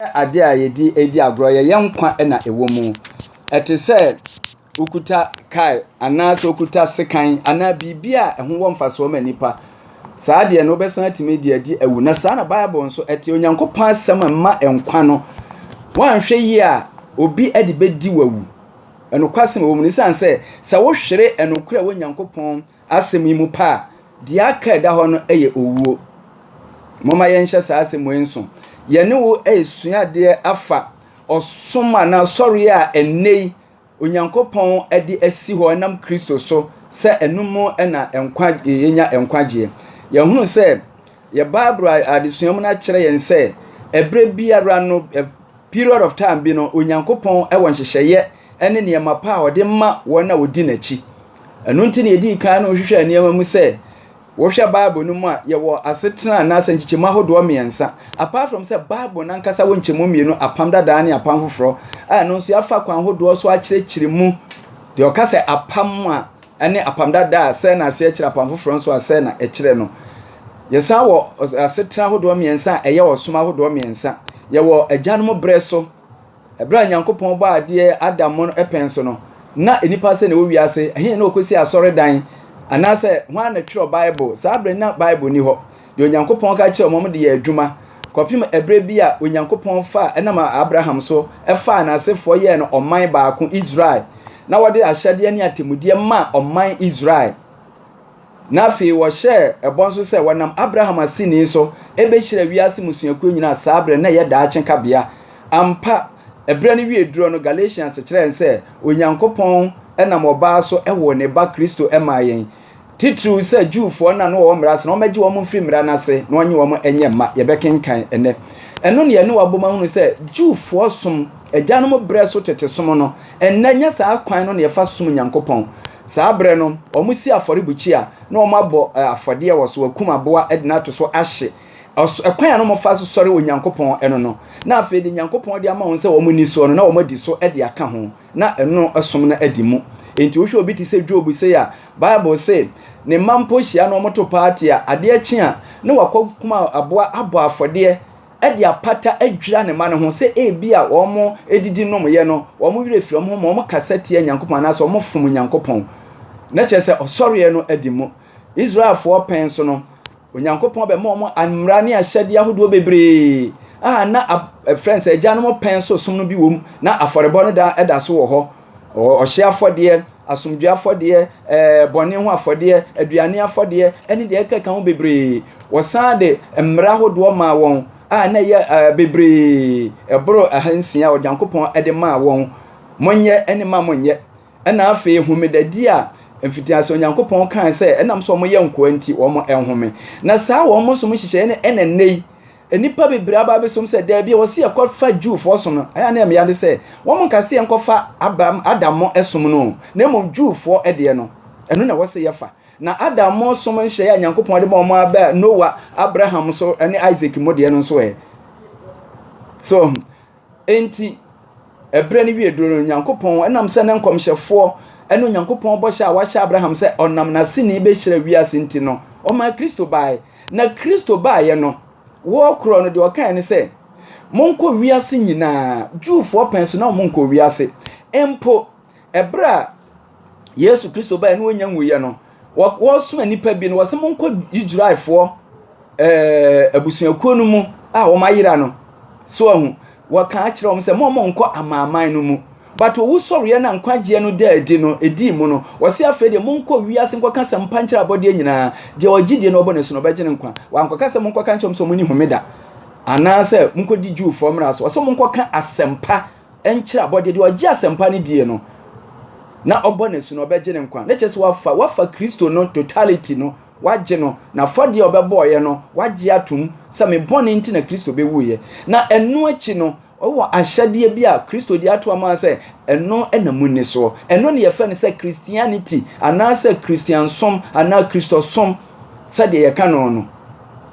Ɛnyɛ ade a yɛde redi agorɔ, yɛ yɛn nkwa na ɛwɔ mu. Ɛte sɛ wokuta kae anaasɛ wokuta sekan anaa biribi a ɛho wɔ mfasoɔ ma nnipa. Saa deɛ no wobɛsan atumi de adi awu. Na saa na Bible nso ɛte Onyankopɔn asɛm mma nkwa no. Woanhwɛ yie a obi de bɛdi wawu. Ɛnokwasɛm ɛwɔ mu no sane sɛ sɛ wohwere ɛnokorɛ wɔ Onyankopɔn Asɛm yi mu pɛ a, deɛ aka a ɛda hɔ no yɛ owuo. Momma yɛnhyɛ saa asɛm wei nso. Yɛne wo resua adeɛ afa ɔsom anaa asɔreɛ a ɛnnɛ yi Onyankopɔn de asi hɔ ɛnam Kristo so sɛ ɛno mu na nkwa yɛnya nkwagyeɛ. Yɛhunu sɛ yɛ Bible adesua mu no akyerɛ yɛn sɛ ɛberɛ biara no period of time bi no Onyankopɔn wɔ nhyehyɛeɛ ne nneɛma pa a ɔde ma wɔn a wɔdi n'akyi. Ɛno nti na yɛdii kan no hwehwɛɛ nneɛma mu sɛ, wohwɛ Bible no mu a, yɛwɔ asetena anaasɛ nkyekyɛmu ahodoɔ mmiɛnsa. Apart from sɛ Bible no ankasa wɔ nkyɛmu mmienu, Apam Dadaa ne Apam Foforɔ, a ɛno nso yɛafa kwan ahodoɔ so akyerɛkyerɛ mu. Deɛ ɔka sɛ apam a ɛne Apam Dadaa a sɛ na aseɛ kyerɛ, Apam Foforɔ nso a sɛ na ɛkyerɛ no. Yɛsan wɔ asetena ahodoɔ mmiɛnsa a ɛyɛ ɔsom ahodoɔ mmiɛnsa. Yɛwɔ agyanom berɛ so. Bere a Nyankopɔn bɔɔ adeɛ Adam mo no pɛn so no, na nnipa sɛn na ɛwɔ wiase? Ɛhe na wɔkɔsi asɔredan? Anaasɛ hwan na twerɛ Bible? Saa bere no na Bible nni hɔ. Deɛ Onyankopɔn ka kyerɛɛ wɔn de yɛɛ adwuma, kɔpem ɛberɛ bi a Onyankopɔn faa, ɛnam Abraham so, faa n'asefoɔ yɛɛ no ɔman baako, Israel, na wɔde ahyɛdeɛ ne atemmudeɛ maa ɔman Israel. Na afei wɔhyɛɛ ɛbɔ nso sɛ wɔnam Abraham aseni so bɛhyira wiase mmusuakuo nyinaa saa berɛ no, na ɛyɛ daakye kabea. Ampa, ɛberɛ no wiee duro no, Galatians kyerɛ yɛn sɛ Onyankopɔn nam ɔbaa so woo ne Ba, Kristo, maa yɛn. Titiriw sɛ Jewfoɔ no a na wɔwɔ mmara ase no, wɔmmɛgye wɔn mfiri mmara no ase na wɔnnye wɔn nyɛ mma. Yɛbɛkenkan ɛnnɛ. Ɛno na yɛne wo abom ahunu sɛ Jewfoɔ som, agyanom berɛ so tete som no, ɛnnɛ nyɛ saa kwan no na yɛfa som Nyankopɔn. Saa berɛ no, wɔsi afɔrebukyia na wɔabɔ afɔdeɛ wɔ so, wɔakum aboa de no ato so ahye. Ɔso, ɛkwan a na wɔfa so sɔre Onyankopɔn no no, na afei deɛ Nyankopɔn de ama wɔn sɛ wɔnni soɔ no, na wɔadi so de aka ho, na ɛno som no adi mu. Enti wohwɛ obi te sɛ Job sei a, Bible se, ne mma mpo hyia no wɔto party a, adeɛ kye a, na wakɔkum aboa abɔ afɔdeɛ, de apata adwira ne mma no ho sɛ ebia wɔdidi nomyɛ no, wɔn werɛ firi wɔn ho ma wɔkasa tia Nyankopɔn anaasɛ wɔfom Nyankopɔn. Na kyerɛ sɛ ɔsɔreɛ no adi mu. Israelfoɔ pɛn so no, Onyankopɔn bɛma wɔn mmara ne ahyɛdeɛ ahodoɔ bebree a na ɛfrɛ sɛ agyanom pɛn so som no bi wɔ mu, na afɔrebɔ no da so wɔ hɔ. ɔhyeɛ afɔdeɛ asomdwoeɛ afɔdeɛ ɛɛ bɔne ho afɔdeɛ aduane afɔdeɛ ɛne deɛ ɛkeka ho bebree wɔsan de mmara ahodoɔ maa wɔn a na ɛyɛ ɛɛ bebree ɛboro ɛha nsia ɔgyankopɔn ɛde maa wɔn monyɛ ɛne ma monyɛ ɛna afei homedadi a mfitiase onyankopɔn kan sɛ ɛnam sɛ wɔn yɛ nkoa nti wɔn ɛnhome na saa wɔn mo som nhyehyɛeɛ no ɛna nnɛ yi nnipa bebree aba abɛsom sɛ daabi a wɔsi yɛ kɔfa Jewfoɔ som no ɛyɛ ne mmea de sɛ wɔn nka sɛ yɛn kɔfa Abraham Adammɔ ɛsom no na mmom Jewfoɔ ɛdeɛ no ɛno na wɔsɛ yɛfa na Adammɔ som nhyɛeɛ a Nyankopɔn de ma wɔn abɛ Noah Abraham so ɛne Isaac mu deɛ no nso ɛ so Enti, ɛberɛ no wie duruu no, Onyankopɔn, ɛnam sɛ ne nkɔmhyɛfoɔ ne Onyankopɔn bɔhyɛ a wahyɛ Abraham sɛ ɔnam n'aseni bɛhyira wiase nti no, ɔmaa Kristo baeɛ. Na Kristo baeɛ no, woɔ korɔ no, deɛ ɔkaeɛ ne sɛ, Monkɔ wiase nyinaa. Jewfoɔ pɛn so na wɔnkɔɔ wiase mpo. ɛberɛ a yesu kristo bɛɛ ne wɔnya nwuiɛ no wɔsoma nnipa bi no wɔsɛ monkɔ israelfoɔ ɛɛ abusuakuo no mu a wɔn ayera no so ahu wɔka akyerɛ wɔn sɛ mo mo nkɔ amanaman no mu but owu sɔreɛ na nkwagyeɛ no da adi no edi mu no wɔsɛ afei deɛ monkɔ wiase nkɔka sɛ mpa nkyerɛ abɔdeɛ nyinaa deɛ ɔgye die na ɔbɔ ne so no ɔbɛgye ne nkwa wankɔka sɛ monkɔka nkyɛm sɛ mo ni homeda anaasɛ monkɔdi jewfoɔ mmara so wɔsɛ monkɔka asɛmpa nkyerɛ abɔdeɛ, deɛ ɔgye asɛmpa no die no, na ɔbɔ no asu no, ɔbɛgye ne nkwa. Ne kyerɛ sɛ wafa wafa Kristo no totality no, wagye no, na afɔdeɛ a ɔbɛbɔɔyɛ no, wagye atom sɛ me bɔne nti na Kristo bɛwuiɛ. Na ɛno akyi no, ɔwɔ ahyɛdeɛ bi a Kristo de ato ama sɛ ɛno na munni soɔ. Ɛno na yɛfɛ no sɛ Christianity anaasɛ Christiansom anaa Kristosom sɛdeɛ yɛka no no.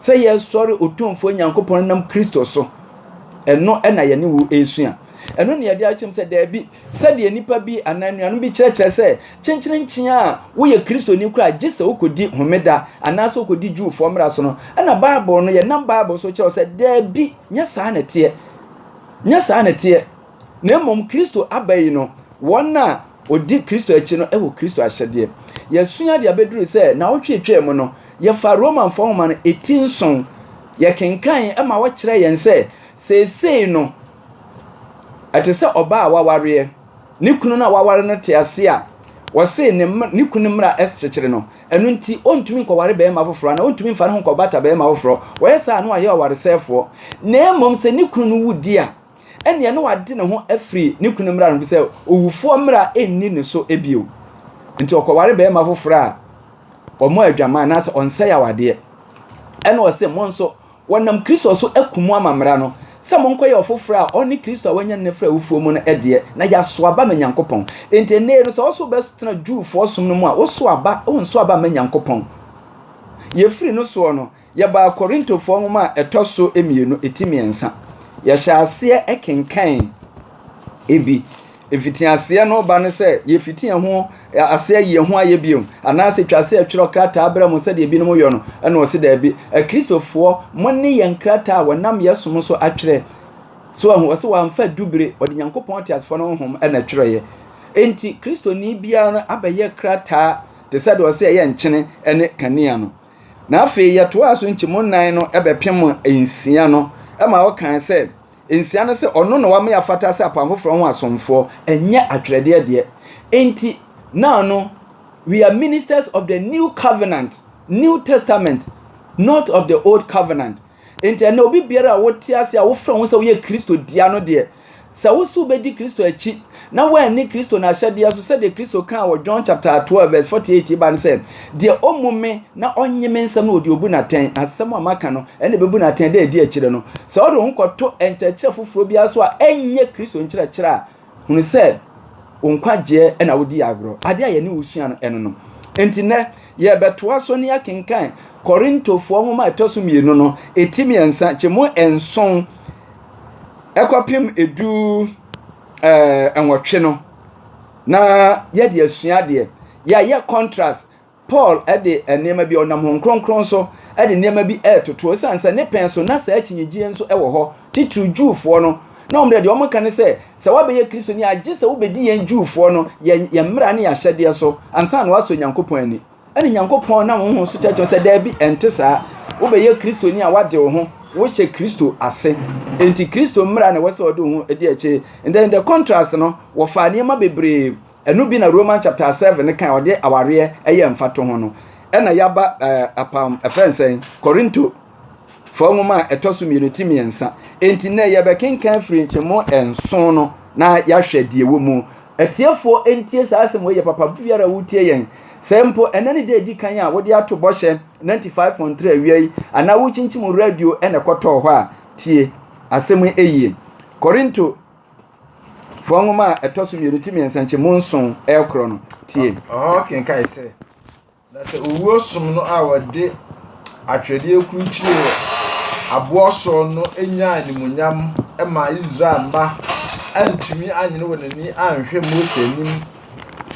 Sɛ yɛsɔre Otumfoɔ Nyankopɔn nam Kristo so. Ɛno na yɛne wo resua. Ɛno na yɛde akyɛm sɛ daabi, sɛdeɛ nipa bi anaa nnuanom bi kyerɛkyerɛ sɛ kyenkyerenkyen a woyɛ Kristoni koraa gye sɛ wokɔdi homeda anaasɛ wokɔdi Jewfoɔ mmara so no, ɛna Bible no, yɛnam Bible so kyerɛw sɛ daabi, nyɛ saa na ɛteɛ. Nyɛ saa na ɛteɛ. Na mmom Kristo aba yi no, wɔn a wɔdi Kristo akyi no wɔ Kristo ahyɛdeɛ. Yɛasua de abɛduru sɛ naawɔtwe atwaa mu no, yɛfaa Romanfoɔ nwoma no ɛti nson. Yɛkenkan ma wɔkyerɛɛ yɛn sɛ, seesei no, ɛte sɛ ɔbaa a wawareɛ, ne kunu no a waware no te ase a wɔse ne, ne kunu mmara kyekyere no, ɛno nti ɔntumi nkɔware barima foforɔ anaa ɔntumi mfa ne ho nkɔbata barima foforɔ, wɔyɛ saa na wɔayɛ ɔwaresɛefoɔ. Na mmom sɛ ne kunu no wu di a, ɛnneɛ na wade ne ho afiri ne kunu mmara no sɛ owufoɔ mmara nni ne so bio nti ɔkɔware bɛrima foforɔ a wɔn adwaman anaasɛ ɔnsɛe awadeɛ ɛna ɔse mo nso wɔnam kristo so aku mo ama mmara no sɛ monkɔyɛ ɔfoforɔ a ɔne kristo a wɔanya ne fra awufoɔ mu no ɛdeɛ na yɛaso aba ma nyankopɔn nti ɛnɛ no sɛ ɔso bɛtena jewfoɔ som no mu a woso aba wonso aba ma nyankopɔn yɛfiri no soɔ no Yɛbaa Korintofoɔ nwoma a ɛtɔ so mmienu, ɛti mmiɛnsa. Yɛhyɛ aseɛ kenkan ebi. Ɛfiti aseɛ no ba no sɛ yɛfiti ɛho aseɛ yie ho ayɛ bio anaasɛ twa aseɛ twerɛ krataa berɛ mu sɛdeɛ ebinom yɔ no ɛna ɔsi daabi akristofoɔ mo ne yɛn krataa a wɔnam yɛ som so atwerɛ so ɛho ɔsɛ wɔamfa dubire ɔde nyankopɔn teasefoɔ no honhom ɛna twerɛeɛ enti kristoni biara abɛyɛ krataa te sɛ deɛ ɔsɛ ɛyɛ nkyene ɛne kanea no Na afei yɛtoaa so nkyɛmu nnan no bɛpem nsia no ma ɔkae sɛ, Nsia no sɛ ɔno na wama yɛafata sɛ Apam Foforɔ ho asomfoɔ, ɛnyɛ atwerɛdeɛ deɛ. Enti, now no, we are ministers of the New Covenant, New Testament, not of the Old Covenant. nti ɛnna obi biara a wote ase a wofrɛ ho sɛ woyɛ kristo dia no deɛ sɛ wo so wobɛdi kristo akyi na woanni kristo no ahyɛdeɛ so sɛdeɛ kristo kaa wɔ john chapter 12 verse 48 ba no sɛ deɛ ɔmu me na ɔnye me nsɛm no ɔde obu natɛn asɛm a maka no ɛna ɛbɛbu natɛn dɛ ɛdi akyire no sɛ ɔde ho kɔto nkyerɛkyerɛ foforɔ biara so a ɛnyɛ kristo nkyerɛkyerɛ a hunu sɛ wo nkwagyeɛ na wodi agorɔ. Adeɛ a yɛne wo sua no ɛno no. Enti nɛ yɛbɛtoa so ne akenkan Korintofoɔ nwoma a ɛtɔ so mmienu no, ɛti mmiɛnsa, kye mu nson, ɛkɔpem ɛdu ɛɛ nwɔtwe no, na yɛde asua adeɛ. Yɛayɛ contrast Paul de nneɛma bi, ɔnam Honhom Kronkron so de nneɛma bi retoto, esiane sɛ ne pɛn so na saa akyinnyegyeɛ nso wɔ hɔ, titiriw Jewfoɔ no, na wɔn deɛ, deɛ wɔka ne sɛ, sɛ woabɛyɛ Kristoni a, gye sɛ wobɛdi yɛn Jewfoɔ no, yɛn, yɛn mmara ne yɛn ahyɛdeɛ so, ansa na woasɔ Nyankopɔn ani. Ɛna Nyankopɔn nam Honhom so kyerɛkyerɛ sɛ, Daabi, ɛnte saa. Wobɛyɛ Kristoni a, woade wo ho, wohyɛ Kristo ase. Enti Kristo mmara na ɛwɔ sɛ ɔde wo ho di akyire. Ndɛ, in the contrast no, wɔfaa nneɛma bebree Ɛno bi na Roman chapter seven no kan ɔde awareɛ ɛyɛ mfato ho no. Ɛna yaba ɛɛ apam ɛfɛn sɛn Korinto fɔɔ nwoma a ɛtɔ so mmienu ti mmiɛnsa. Enti nnɛ yɛbɛkenkan firi nkyɛmu nson no na yɛahwɛ deɛ ɛwɔ mu. Atiefoɔ ntie saa asɛm wei yɛ papa biara a wotie yɛn. Sɛ mpo ɛnɛ ne da edi kan a wode ato bɔhyɛ ninety five point three awia yi anaa wokyinkyim radio ɛna ɛkɔtɔɔ hɔ a tie asɛm yi yie. Korinto Fua nwoma a ɛtɔ so mmienu ti mmiɛnsa nkyɛn mu nson ɛkorɔ no tie. Ɔhɔ kenkae sɛ, na sɛ owuo som no a wɔde atwerɛdeɛ kurukyire wɔ aboɔ soɔ no nya animuonyam ma Israel mma antumi anyene wɔn ani anhwɛ Mose anim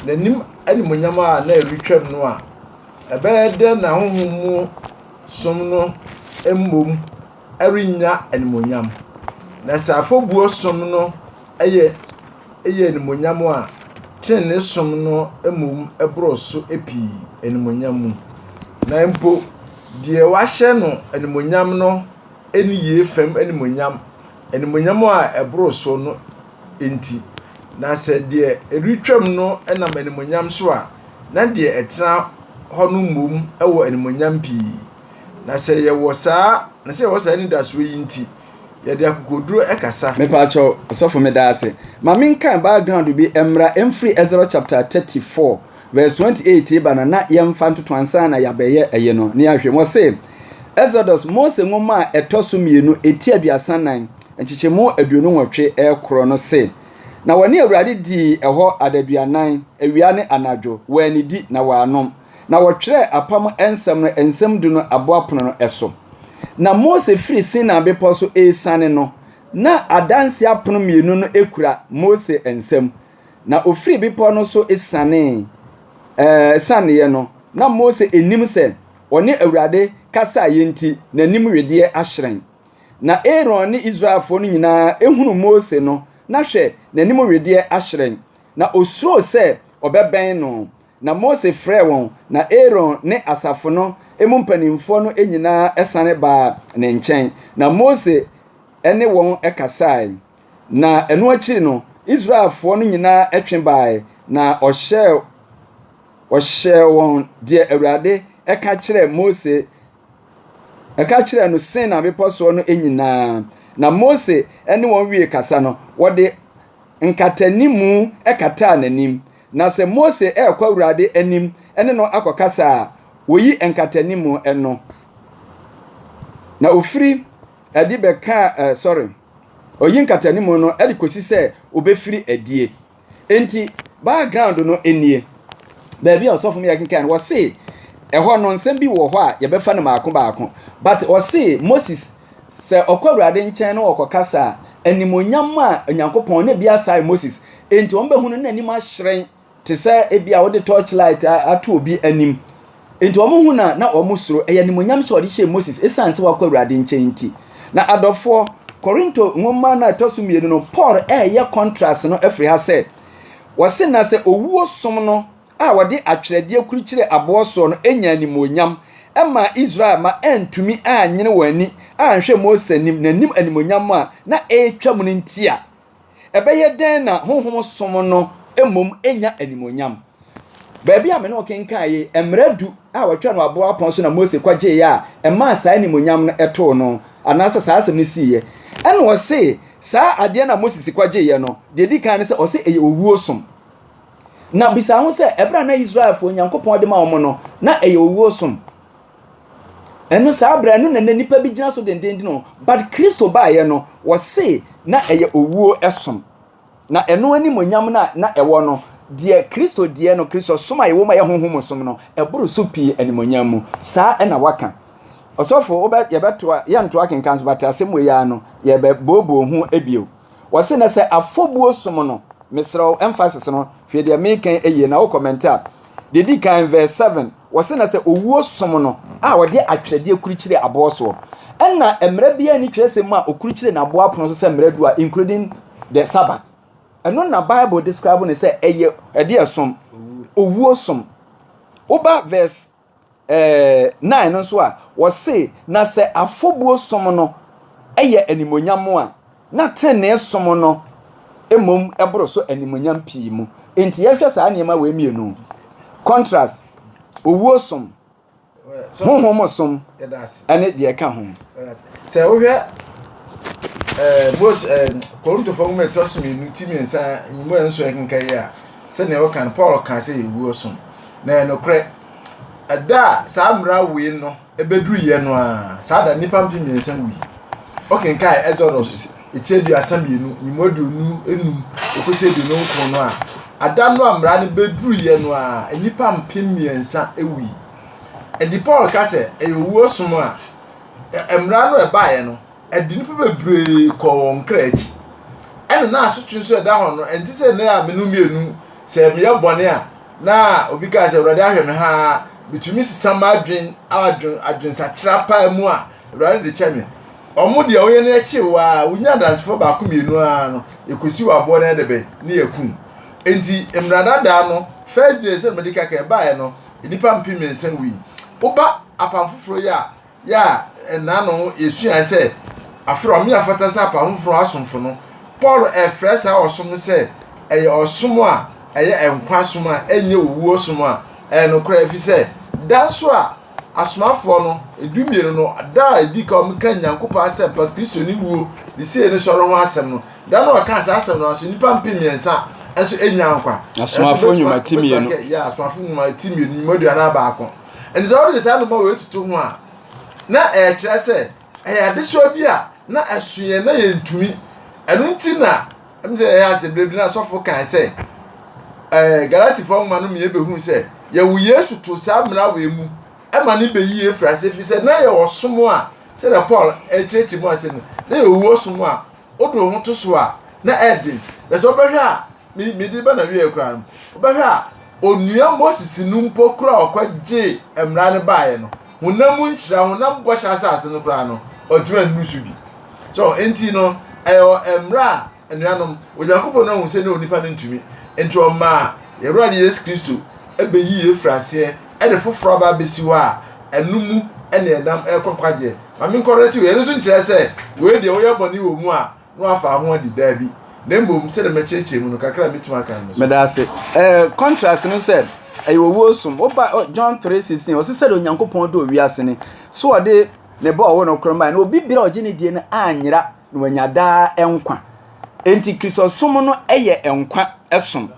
n'anim animuonyam a na ɛretwam no a, ɛbɛyɛ dɛn na honhom mu som no mmom rennya animuonyam. Na sɛ afɔbuo som no yɛ yɛ animuonyam a, trenee som no mmom boro so pii animuonyam mu. Na mpo deɛ wɔahyɛ no animuonyam no nniyie fam animuonyam, animuonyam a ɛboro so no nti. Na sɛ deɛ ɛretwam no nam animuonyam so a, na deɛ ɛtena hɔ no mmom wɔ animuonyam pii. Na sɛ yɛwɔ saa na sɛ yɛwɔ saa anidasoɔ yi nti, yɛde akokoduro kasa. Mepaakyɛw, ɔsɔfo meda ase. Ma menkae background bi mmra ɛmfiri Ɛsra chapter 34 verse 28 reba na na yɛmfa ntoto ansa na yɛabɛyɛ ɛyɛ no ne ahwɛ mu. Ɔse, Exodus, Mose nwoma a ɛtɔ so mmienu, eti aduasa nan, nkyekyɛmu aduonu nwɔtwe ɛkorɔ no se, Na wɔne Awurade dii ɛhɔ adaduanan, awia ne anadwo, wɔannidi na wɔannom. na wɔtwerɛɛ apam nsɛm no nsɛm du no aboapono no so. Na Mose firi Sinai bepɔ so resiane no, na adanseɛ apono mmienu no kura Mose nsam. Na ɔfiri bepɔ no so sianee, ɛɛ, sianeeɛ no, na Mose nnim sɛ ɔne Awurade kasaeɛ nti, n'anim wedeɛ ahyerɛn. Na Aaron ne Israelfoɔ no nyinaa hunu Mose no, na hwɛ, n'anim wedeɛ ahyerɛn, na ɔsuroo sɛ ɔbɛbɛn no. Na Mose frɛɛ wɔn, na Aaron ne asafo no mu mpanimfoɔ no nyinaa sane baa ne nkyɛn, na Mose ne wɔn kasae. Na ɛno akyiri no, Israelfoɔ no nyinaa twe baeɛ, na ɔhyɛɛ ɔhyɛɛ wɔn deɛ Awurade ka kyerɛɛ Mose ɛka kyerɛɛ no Sinai bepɔ soɔ no nyinaa. Na Mose ne wɔn wie kasa no, wɔde nkatanimu kataa n'anim, Na sɛ Mose rekɔ Awurade anim ne no akɔkasa a, oyi nkatanimu no, na ofiri adi bɛka ɛ sɔre, oyi nkatanimu no de kosi sɛ obefiri adie. Enti background no nie, baabi a ɔsɔfo no yɛ kenkan no, wɔse ɛhɔ no nsɛm bi wɔ hɔ a yɛbɛfa no baako baako, but ɔse Moses Sɛ ɔkɔ Awurade nkyɛn na ɔkɔkasa a, animuonyam ma Onyankopɔn, na ebia saa yɛ Moses. Enti wɔbehu no na n'anim ahyerɛn te sɛ ebia wode torchlight ato obi anim. Enti wɔhu no a, na wɔsuro. Ɛyɛ animuonyam hyɛ a ɔde hyɛɛ Moses esiane sɛ wakɔ Awurade nkyɛn nti. Na adɔfoɔ, Korinto nwoma no a ɛtɔ so mmienu no, Paul reyɛ contrast no afiri ha sɛ, wɔse na sɛ owuo som no, a wɔde atwerɛdeɛ kurukyire aboɔ soɔ no nyaa animuonyam maa Israel mma antumi anyene wɔn ani anhwɛ Mose anim, n'anim animuonyam a na ɛretwam no nti a, ɛbɛyɛ dɛn na honhom som no mmom nya animuonyam? Baabi a me ne wo kenkan yi, mmara du a wɔtwa no aboɔ apɔn so na Mose kɔgyeeɛ a ɛmaa saa animuonyam no ɛtoo no, anaasɛ saa asɛm no siiɛ. Ɛna ɔse saa adeɛ no a Mose si kɔgyeeɛ no, deɛ ɛdi kan ne sɛ ɔse ɛyɛ owuo som. Na bisa ho sɛ, ɛberɛ a na Israelfoɔ Nyankopɔn de ma wɔn no, na ɛyɛ owuo som. Ɛno saa berɛ ɛno na na nipa bi gyina so dendenden o. But Kristo baeɛ no, wɔse na ɛyɛ owuo som. Na ɛno animonyam no a na ɛwɔ no, deɛ Kristo deɛ no, Kristo som a yɛwɔ mu a ɛyɛ honhom som no, ɛboro so pii animonyam mu. Saa ɛna waka. Ɔsɔfo, wobɛ, yɛbɛtoa, yɛntoa kenkan so, but asɛm wei ara no, yɛbɛbooboo ho bio. Wɔse na sɛ afɔbuo som no, mesrɛ wo, emphasis no, hwɛ deɛ meka yi yie na wo comment a, deɛ di kan verse 7, wɔse na sɛ owuo som no a ɔde atwerɛdeɛ kurukyire aboɔ soɔ, ɛna mmara biara ni twerɛsɛm mu a ɔkurukyire n'aboɔ apono so sɛ mmara du a including the Sabbath. Ɛno na Bible describe no sɛ ɛyɛ ɛdeɛ som, owuo som. Woba verse eh, 9 no nso a, wɔse, na sɛ afɔbuo som no yɛ animonyam a, na tenenee som no mmom boro so animonyam pii mu. Nti yɛhwɛ saa nneɛma wei mmienu, contrast, owuo som, honhom som, ɛne deɛ ɛka ho. Sɛ wohwɛ eh, Mose, eh, Korintofo nwoma ɛtɔ so mmienu ti mmiɛnsa nwoma nso ɛkenka yi a, sɛdeɛ wɔka no Paul ka sɛ yɛwuo som. Na ɛnokorɛ, ɛda a saa mmara wei no bɛduruiɛ no a, saa da nnipa mpe mmiɛnsa wui. Wokenkae Exodus ɛti aduasa mmienu, nyimu aduonu enum, ɛkɔsi aduonu nkron no a, ada no a mmara no bɛduruiɛ no a, nnipa mpe mmiɛnsa wui. Ɛdi Paul ka sɛ ɛyɛ owuo som a, mmara no ɛbaeɛ no, ɛde nnipa bebree kɔɔ wɔn kra akyi. Ɛna na asotwe nso ɛda hɔ no, ɛnte sɛ nnɛ a menu mmienu sɛ meyɛ bɔne a, na obi kaa sɛ awurade ahwɛ me ha metumi sesa m'adwen adwen adwensakyera paa mu a awurade de kyɛ me ɔmo deɛ ɔyɛ no akyi waa wonya adansefoɔ baako mmienu ara no ekosi wɔ aboɔ no ɛde bɛn ne yɛ kum nti mmrada daa no first day sɛ mede kaka ɛbaeɛ no nnipa mpem mmiɛnsa wui woba apam foforɔ yi a Yɛ a nna no yesuae sɛ afei ɔno yɛ fata sɛ apam foforo asomfo no, Paul refrɛ saa ɔsom no sɛ ɛyɛ ɔsom a ɛyɛ nkwa som a ɛnyɛ owu ɔsom a ɛyɛ nokorɛ efisɛ da nso a asomafoɔ no dumienu no da a ɛdi ka wɔn ka Nyankopɔn asɛmpa Kristo ne wuo ne sie ne sɔre ho asɛm no da no ɔka saa asɛm no nso nnipa mpem mmiɛnsa nso enya nkwa. Asomafoɔ nnwuma ti mmienu. Asomafoɔ nnwuma ti mmienu nnwuma aduanan baako. Ɛnti sɛ wode saa noma wei tutu ho a, na ɛkyerɛ sɛ ɛyɛ adesoa bi a na ɛso yɛn na yɛntumi. Ɛno nti na ɛmu sɛ ɛyɛ ase berɛ bi na asɔfo kan sɛ ɛɛ Galatifoɔ nwoma no mmiɛ bɛhu sɛ yɛwo Yesu to saa mmara wei mu ɛma ne bɛyi efiri ase fi sɛ na yɛwɔ som a sɛdeɛ Paul ɛkyerɛkyerɛ mu ase no na yɛwɔ som a wode wo ho to so a na ɛden na sɛ wobɛhwɛ a mede ba na wieɛ koraa no wobɛhwɛ a onua moses no mpo koraa ɔkɔgye mmara no baeɛ no honam nhyira honam bɔhyɛ asase no koraa no ɔtumi annu so bi so nti no ɛyɛ mmara a anuanom onyankopɔn no ahu sɛ ne onipa no ntumi nti ɔmaa yɛwura de yesu kristo ɛbɛyi yɛ firi aseɛ ɛde foforɔ aba abɛsi hɔ a ɛno mu ɛne ɛnam ɛkɔ nkwagyeɛ ma menkɔrɛ ti wɔ yɛno nso nkyerɛ sɛ wei deɛ woyɛ bɔne wɔ mu a na wafa ho adi daabi na mmom sɛdeɛ mɛkyerɛkyerɛ mu no kakra a mɛtumi aka no so meda ase eh, contrast no sɛ ɛyɛ owuo som woba oh, john 3:16 ɔse sɛdeɛ onyankopɔn dɔ owiase ne so ɔde ne bɔ ɔwo no korɔ mmaa na obi bere a ɔgye ne die no anyera na wanya daa nkwa enti kristosom no yɛ nkwa som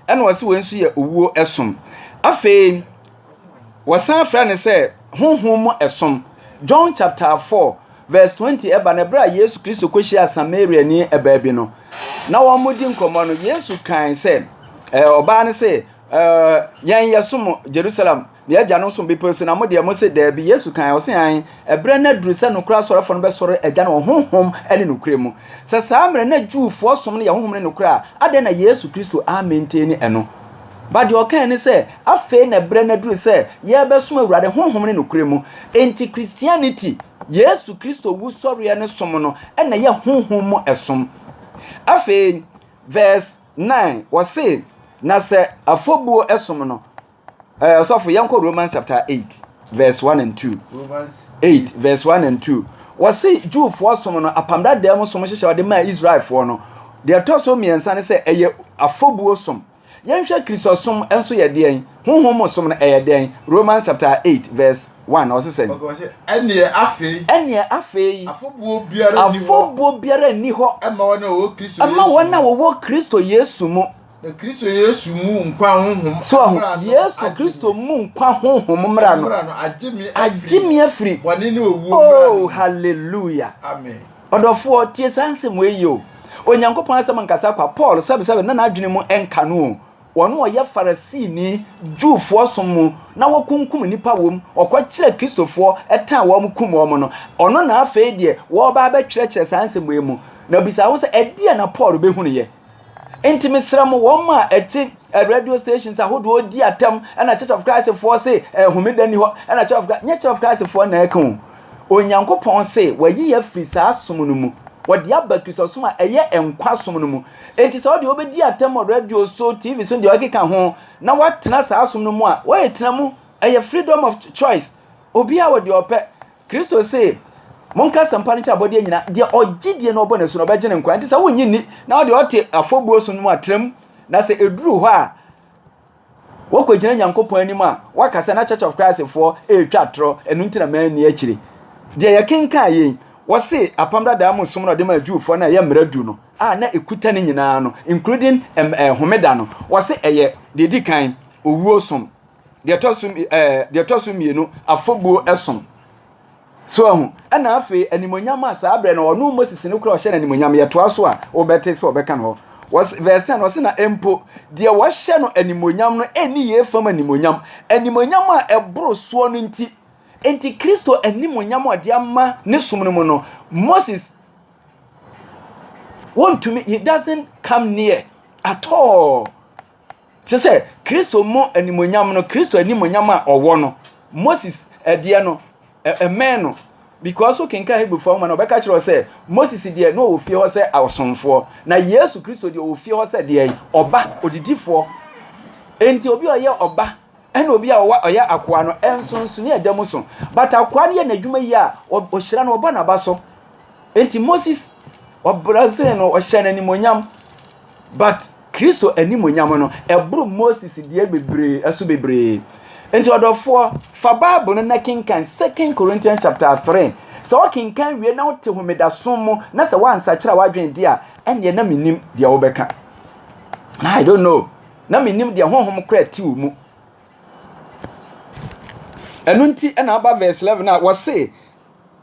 ɛna ɔse wei nso yɛ owuo som afei Wɔsan frɛ no sɛ honhom mu som. John chapter 4 verse 20 ɛba no berɛ a Yesu Kristo kɔhyia Samariani ɛbaa bi no na wɔredi nkɔmmɔ no Yesu kae sɛ ɔbaa no sɛ yɛn yɛ som Jerusalem na yɛagya no som bepɔ so na mo deɛ mo se daabi Yesu kae ɔse an ɛberɛ no aduru sɛ nokora asɔrefoɔ no bɛsɔre agya no wɔ honhom ne nokora mu sɛ saa mmerɛ na Jewfoɔ som no yɛ honhom ne nokora a adɛn na Yesu Kristo amɛntɛni ɛno But deɛ ɔkae ne sɛ, afei na berɛ no aduru sɛ yɛrebɛsom Awurade honhom ne nokorɛ mu. Enti Christianity, Yesu Kristo wusɔreɛ ne som no, na ɛyɛ honhom mu som. Afei, verse 9, wɔse, na sɛ afɔbuo som no, eh, ɔsɔfo, yɛnkɔ Romans chapter 8. verse one and two. Romans eight verse one and two. Wɔsi Jewfoɔ som no apam dada mu som hyehyɛ wɔde maa Israelfoɔ no. Deɛ ɛtɔ so mmiɛnsa ne sɛ ɛyɛ afɔbuo som. Yɛnhwɛ Kristo som nso yɛ deɛn? Honhom mu som no ɛyɛ deɛn? Romans chapter eight verse one ɔsi sɛ. Ɛneɛ afei. Ɛneɛ afei. Afɔbuo biara nni hɔ. Afɔbuo biara nni hɔ. Ɛma wɔn a wɔwɔ Kristo Yesu mu. Ɛma wɔn a wɔwɔ Kristo Yesu mu. Na Kristo Yesu mu nkwa honhom. So ahu Yesu Kristo mu nkwa honhom mmra no. Agye me afiri. Bɔne ne owuo mmra no. Oh hallelujah. Amen. Ɔdɔfoɔ tie saa nsɛm wei yio. Onyankopɔn asɛm nkasa kwa Paul sɛbesɛbe na n'adwene mu nka no o. Wɔn ɔyɛ Farisini Jewfoɔ som mu na wɔkunkum nnipa wom. Ɔkɔkyerɛ Kristofoɔ ɛtan wɔn kum wɔn no. Ɔno na afei deɛ wɔreba abɛtwerɛkyerɛ saa nsɛm wei mu. Na obisa ho sɛ ɛdeɛ na Paul bɛhunuiɛ. nti mesrɛ mo wɔn a ɛte eh, radio stations ahodoɔ ɔdi atam ɛna church of christ foɔ se eh, homeda ni hɔ ɛna church of christ nyɛ church of christ foɔ na ɛka o onyankopɔn se wɔayi yɛ firi saa som no mu wɔde aba kristosom a ɛyɛ nkwa som no mu enti sɛ wɔde wɔbɛdi atam wɔ radio so tv so deɛ ɔkeka ho na wɔatena saa som no mu a wɔyɛ tena mu ɛyɛ freedom of choice obiara wɔ deɛ ɔpɛ Kristo se, monka asɛmpa no kyɛ abɔdeɛ nyina, deɛ ɔgye die na ɔbɔ n'asu no ɔbɛgye ne nkwa, nti sɛ wonye nni na wode ɔte afɔbuo so no mu atrem, na sɛ ɛduru hɔ a wɔkɔgyina Nyankopɔn anim a waka sɛ na Church of Christ foɔ ɛretwa atorɔ, ɛno nti na manni akyire. Deɛ yɛkenkan yei, wɔse apam dadaa mu som na ɔde maa Jewfoɔ no a ɛyɛ mmara du no a na ɛkuta ne nyinaa no, including homeda no, wɔse ɛyɛ deɛ ɛdi kan owuo som. deɛ ɛtɔ so ɛɛ eh, deɛ ɛtɔ so mmienu afɔbuo ɛsom so ɛho ɛna afei animonyam a saa abirɛ na ɔno moses no kura ɔhyɛ no animonyam yɛtoa so a wɔbɛte sɛ ɔbɛka no hɔ wɔs verse ten wɔsi na mpo deɛ wɔhyɛ no animonyam no ɛni yie fam animonyam animonyam a ɛboro soɔ no nti nti kristo animonyam a ɔde ama ne som no mu no moses wɔntumi he doesn't come near at all. Te sɛ Kristo mu animuonyam no, Kristo animuonyam a ɔwɔ no, Moses ɛdeɛ no, ɛmɛn no. Because so kenkan Hebrifoɔ nwoma no, ɔbɛka kyerɛ sɛ Moses deɛ na ɔwɔ fie hɔ sɛ ɔsomfoɔ, na Yesu Kristo deɛ ɔwɔ fie hɔ sɛ deɛ ɔba odidifoɔ. Enti obi a ɔyɛ ɔba ɛna obi a ɔyɛ akoa no nsonsonoe ɛda mu so. But akoa no yɛ n'adwuma yi a ɔhyira no ɔbɔ n'aba so. Enti Moses ɔbrɛsee no ɔhyɛ no animuonyam but Kristo animuonyam no, ɛboro Moses deɛ bebree so bebree. Nti ɔdɔfoɔ, fa Bible no na kenkan 2 Corinthians chapter 3. Sɛ wokenkan wie na wote homedaso mu na sɛ woansakyera w'adwene de a, ɛnneɛ na menim deɛ wobɛka. I don't know. Na menim deɛ honhom kora ti wo mu. Ɛno nti na aba verse 11 a wɔse,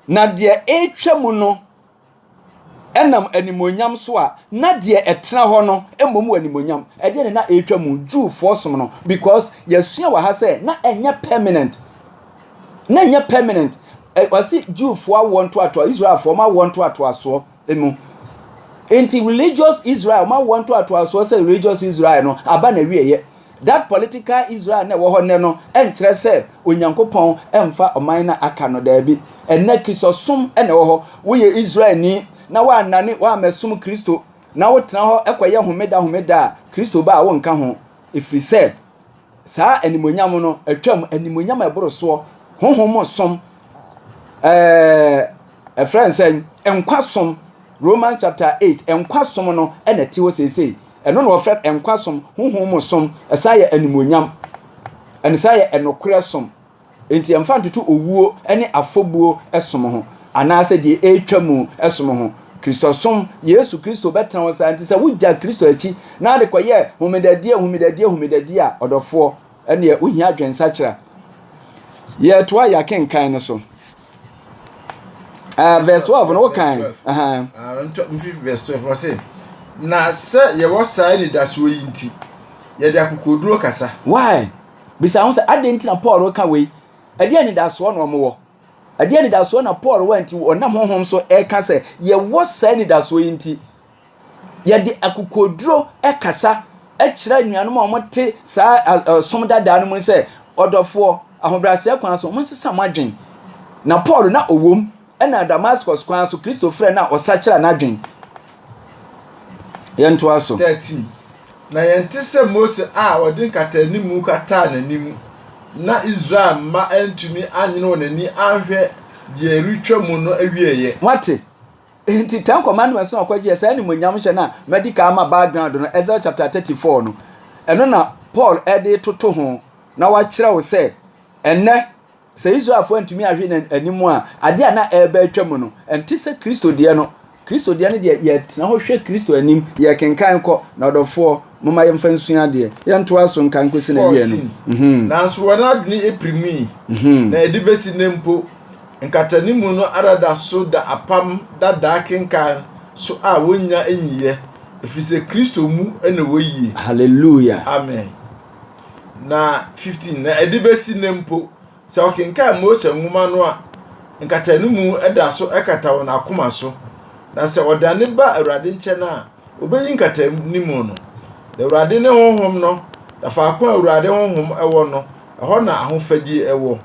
na deɛ ɛretwa mu no Ɛnam animuonyam so a na deɛ ɛtena hɔ no mmom wɔ animuonyam. Ɛdeɛ na na ɛretwa mu Jewfoɔ som no because yɛasua wɔ ha sɛ na ɛnyɛ permanent. Na ɛnyɛ permanent. Wɔsi Jewfoɔ awoɔ ntoatoa Israelfoɔ wɔn awoɔ ntoatoasoɔ mu. Nti religious Israel wɔn awoɔ ntoatoasoɔ sɛ religious Israel no aba na wieɛ. That political Israel na ɛwɔ hɔ nnɛ no nkyerɛ sɛ Onyankopɔn mfa ɔman na aka no daabi. Ɛnnɛ Kristosom na ɛwɔ hɔ. Woyɛ Israelni na woannane woammɛsom Kristo na wotena hɔ kɔyɛ homeda homeda a, Kristo ba a wonka ho. Ɛfiri sɛ saa animonyam no atwam, animonyam a ɛboro soɔ, honhom mu som, ɛfrɛ nsɛn, nkwa som, Romans chapter 8, nkwa som no na ɛte hɔ seesei. Ɛno na wɔfrɛ no nkwa som, honhom mu som, ɛsan yɛ animuonyam, ɛne san yɛ nokorɛ som. Enti yɛmfa ntoto owuo ne afɔbuo som ho, anaasɛ deɛ ɛretwa mu som ho. Kristosom, Yesu Kristo bɛtena hɔ saa, nti sɛ wogya Kristo akyi na ade kɔyɛ homedadie, homedadie, homedadie a, ɔdɔfoɔ, ɛneɛ wohia adwensakyera. Yɛtoa yɛn akenkan no so. Uh, verse 12, no, what kind? Uh-huh. Uh, verse 12, what's it? na sɛ yɛwɔ saa anidasoɔ yi nti yɛde akokoduro kasa. why bisa ho sɛ adɛn nti na paul ka wei ɛdeɛ anidasoɔ na ɔmowɔ ɛdeɛ anidasoɔ na paul wɔ nti ɔnam honhom so ɛka sɛ yɛwɔ saa anidasoɔ yi nti yɛde akokoɔduro kasa kyerɛ anuanom a wɔte saa a ɔsom dadaa no mu sɛ, ɔdɔfoɔ, ahobrɛaseɛ kwan so, monsesa mo adwene. Na Paul na ɔwom na Damascus kwan so Kristo frɛ no a ɔsakyera n'adwene. Yɛntoa so. 13 na yɛnte sɛ Mose a ɔde nkataanimu kataa n'anim na Israel mma antumi anyene wɔn ani anhwɛ deɛ ɛretwa mu no awieeɛ. Moate? Enti Ten Commandments no a ɔkɔgyeɛ saa animuonyamhyɛ no a madi kan ama background no, Exodus chapter 34 no, ɛno na Paul de toto ho na wakyerɛ wo sɛ ɛnɛ sɛ Israelfoɔ antumi ahwe n'anim a adeɛ a na ɛreba atwa mu no ɛnte sɛ Kristo deɛ no Kristo deɛ no deɛ yɛtena hɔ hwɛ Kristo anim yɛkenkan kɔ na ɔdɔfoɔ moma yɛmfa nsua adeɛ yɛntoa so nka nkɔsi na wie no mhm. nanso wɔn adwene apiri mu yi mhm. na ɛde bɛsi nnɛ mpo Nkatanimu no ara da so da Apam Dada akenkan so a wonnya nyiiɛ, ɛfiri sɛ Kristo mu na wɔyie. Hallelujah. Amen. Na 15, na ɛde bɛsi nnɛ mpo, sɛ wɔkenkan Mose nwoma no a, nkatanimu da so kata wɔn akoma so, na sɛ wɔdane ba Awurade nkyɛn a, wɔbɛyi nkatanimu no. Na Awurade ne Honhom no, na faako a Awurade Honhom wɔ no, ɛhɔ na ahofadie wɔ.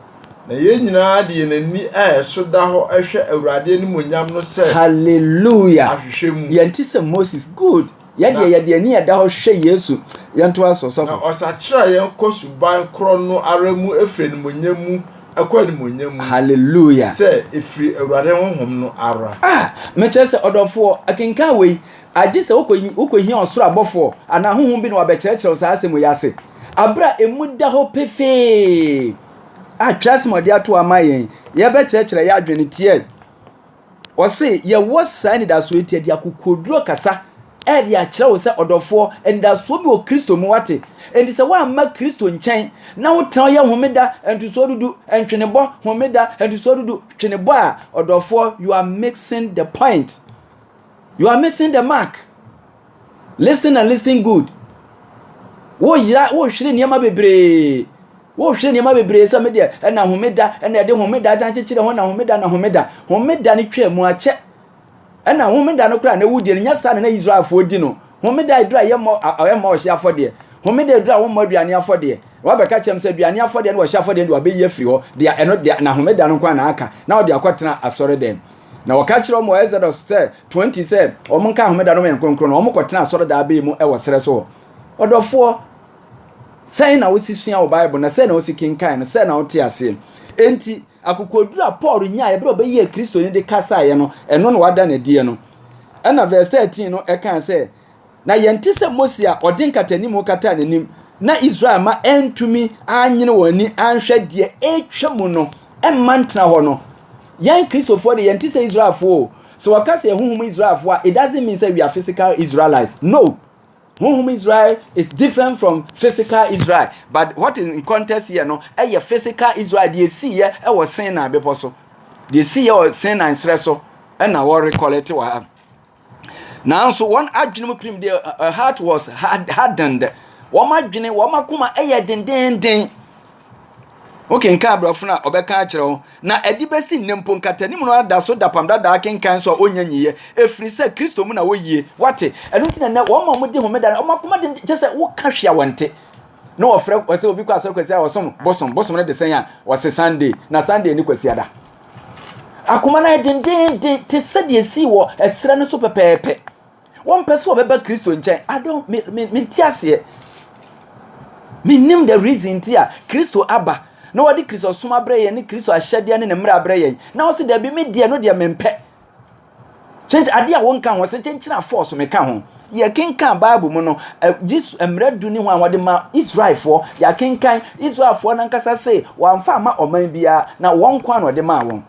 Na yɛn nyinaa de yɛn ani a ɛso da hɔ hwɛ Awurade animuonyam no sɛ Hallelujah! ahwehwɛ mu. Yɛnte sɛ Moses. Good. Yɛdeɛ Na- yɛde ani a ɛda hɔ hwɛ Yesu. Yɛntoa so Na sɔfo. ɔsakyera yɛn kɔ suban korɔ no ara mu ɛfiri animuonyam mu ɛkɔ animuonyam mu Hallelujah! sɛ ɛfiri Awurade Honhom no ara. Ah, mekyerɛ sɛ ɔdɔfoɔ, akenkan wei, agye sɛ wokɔ- wokɔhia ɔsoro abɔfoɔ anaa honhom bi na wabɛkyerɛkyerɛ wo saa asɛm wei ase. aber a emu da hɔ pefee a twerɛsɛm a ɔdze ato hɔ ama hɛn yɛbɛkyerɛkyerɛ yɛadwen tseɛ. Ɔse yɛwɔ saa anidasoɔ yi nti yɛde akokoɔduro kasa ɛde akyerɛ wo sɛ ɔdɔfoɔ anidasoɔ bi wɔ kristo mu wate nti sɛ woamma kristo nkyɛn na wotena ɔyɛ homeda ntosoɔ dudu ntwenebɔ homeda ntosoɔ dudu twenebɔ a ɔdɔfoɔ you are mixing the point you are mixing the mark Listen and listen good. Woyera wohwere nneɛma bebree. Wohwere nneɛma bebree sɛ medeɛ ɛna homeda ɛna ɛde homeda agyan kyekyere ho na homeda na homeda. Homeda no twaa mu akyɛ. Ɛna homeda no koraa na ɛwo die no nyɛ saa na na Israelfoɔ di no. Homeda aduru a yɛmmɔ ɛmmɔ ɔhye afɔdeɛ. Homeda aduru a wɔmmɔ aduane afɔdeɛ. Wabɛka kyɛm sɛ aduane afɔdeɛ ne ɔhye afɔdeɛ de wabɛyi afiri hɔ. Deɛ ɛno deɛ na homeda no nko na aka na ɔde akɔtena asɔre dɛm. Na wɔka kyerɛ wɔn wɔ Exodus sɛ 20 sɛ wɔn nka homeda no yɛ nkronkron na wɔn kɔtena asɔredaa bɛn mu wɔ serɛ so hɔ. Ɔdɔfoɔ, sɛn na wosi sua wɔ Bible na sɛn na wosi kenkan no sɛn na wote aseɛ. Enti akokoduru a Paul nyaeɛ berɛ a ɔbɛyɛɛ Kristoni de kasaeɛ no, ɛno na wada no adiɛ no. Ɛna verse 13 no ɛkaa sɛ, na yɛnte sɛ Mose a ɔde nkatanimu kataa n'anim na Israel ma ɛntumi anyene wɔn ani anhwɛ deɛ ɛretwa mu no mma ntena hɔ no. Yɛn Kristofoɔ de yɛnte sɛ Israelfoɔ o. Sɛ wɔka sɛ honhom Israelfoɔ a, it doesn't mean sɛ we are physical Israelites. No. Honhom Israel is different from physical Israel. But what is in context here no, ɛyɛ physical Israel deɛ ɛsiiɛ wɔ Sinai bepɔ so. Deɛ ɛsiiɛ wɔ Sinai serɛ so na wɔrekɔlɛte wɔ ha. nanso wɔn adwene mu pirim deɛ her heart was hardened wɔn adwene wɔn akoma yɛ dendenden wokenkan aborɔfo no a ɔbɛka akyerɛ wo na ɛde bɛsi nnɛ mpo nkatanim no ada so dapam dadaa kenkan so a ɔnya nyiyɛ ɛfiri sɛ kristo mu na wɔyie wate ɛno nti na nnɛ wɔn ma wɔde homeda no wɔn akoma den kyɛ sɛ woka hwea wɔn nte na wɔfrɛ wɔsɛ obi kɔ asɔre kwasi a wɔsom bosom bosom no de sɛn a wɔse sunday na sunday ni kwasi ada Akoma no ayɛ dendeenden te sɛ deɛ esii wɔ ɛserɛ no so pɛpɛɛpɛ. Wɔmpɛ sɛ wɔbɛba Kristo nkyɛn. I don't me me mente aseɛ. Menim the reason nti a Kristo aba na wɔde Kristo som abrɛ yɛn ne Kristo ahyɛdeɛ ne ne mmara abrɛ yɛn. Na wɔsi dɛbi me deɛ no deɛ mempɛ. Sɛnti ade a wɔnka ho sɛ nkyɛnkyerɛ a force me ka ho. Yɛkenkan Bible mu no, Yesu mmerɛ du ne ho a wɔde ma Israelfoɔ. Yɛakenkan Israelfoɔ nankasa se wɔamfa ama ɔman biara na wɔn nko a na ɔde maa wɔn.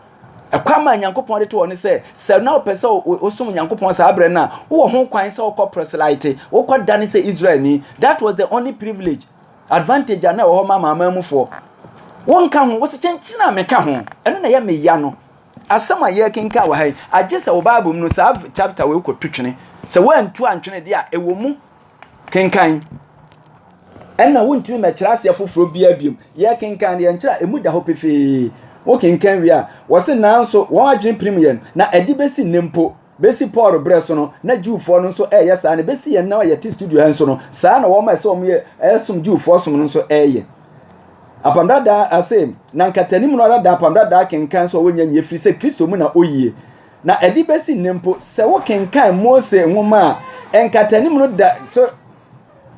Ɛkwan ma Nyankopɔn de to wɔn sɛ sɛ na ɔpɛ sɛ ɔsom Nyankopɔn saa berɛ no a wowɔ ho kwan sɛ wokɔ proselyte, wokɔ dane sɛ Israelni. That was the only privilege, advantage a na ɛwɔ hɔ ma amanamanmufoɔ. Wonka ho, wɔsi kyɛnkyerɛ a meka ho, ɛno na ɛyɛ meya no. Asɛm a yɛrekenkan wɔ ha yi, agye sɛ wo Bible mu no saa chapter wei kɔto twene. Sɛ woantu antwene deɛ a, ɛwɔ mu kenkan. Ɛna wontumi mɛkyerɛ aseɛ foforɔ biara biom. Yɛkenkan deɛ nkyerɛ a ɛmu da hɔ pefee. Wokenkan wie a, wɔse nanso wɔn adwene pirim yɛn, na ɛde bɛsi nnɛ mpo. Besi Paul berɛ so no, na Jewfoɔ no nso reyɛ saa, na besi yɛn nna a yɛte studio ha nso no, saa na wɔn a ɛsɛ wɔn yɛ ɛresom Jewfoɔ som no nso reyɛ. Apam Dadaa ase, na nkatanim no ara da Apam Dadaa kenkan so a wɔnya nyɛ firi sɛ Kristo mu na oyie. Na ɛde besi nnɛ mpo, sɛ wokenkan Mose nwoma a, nkatanim no da so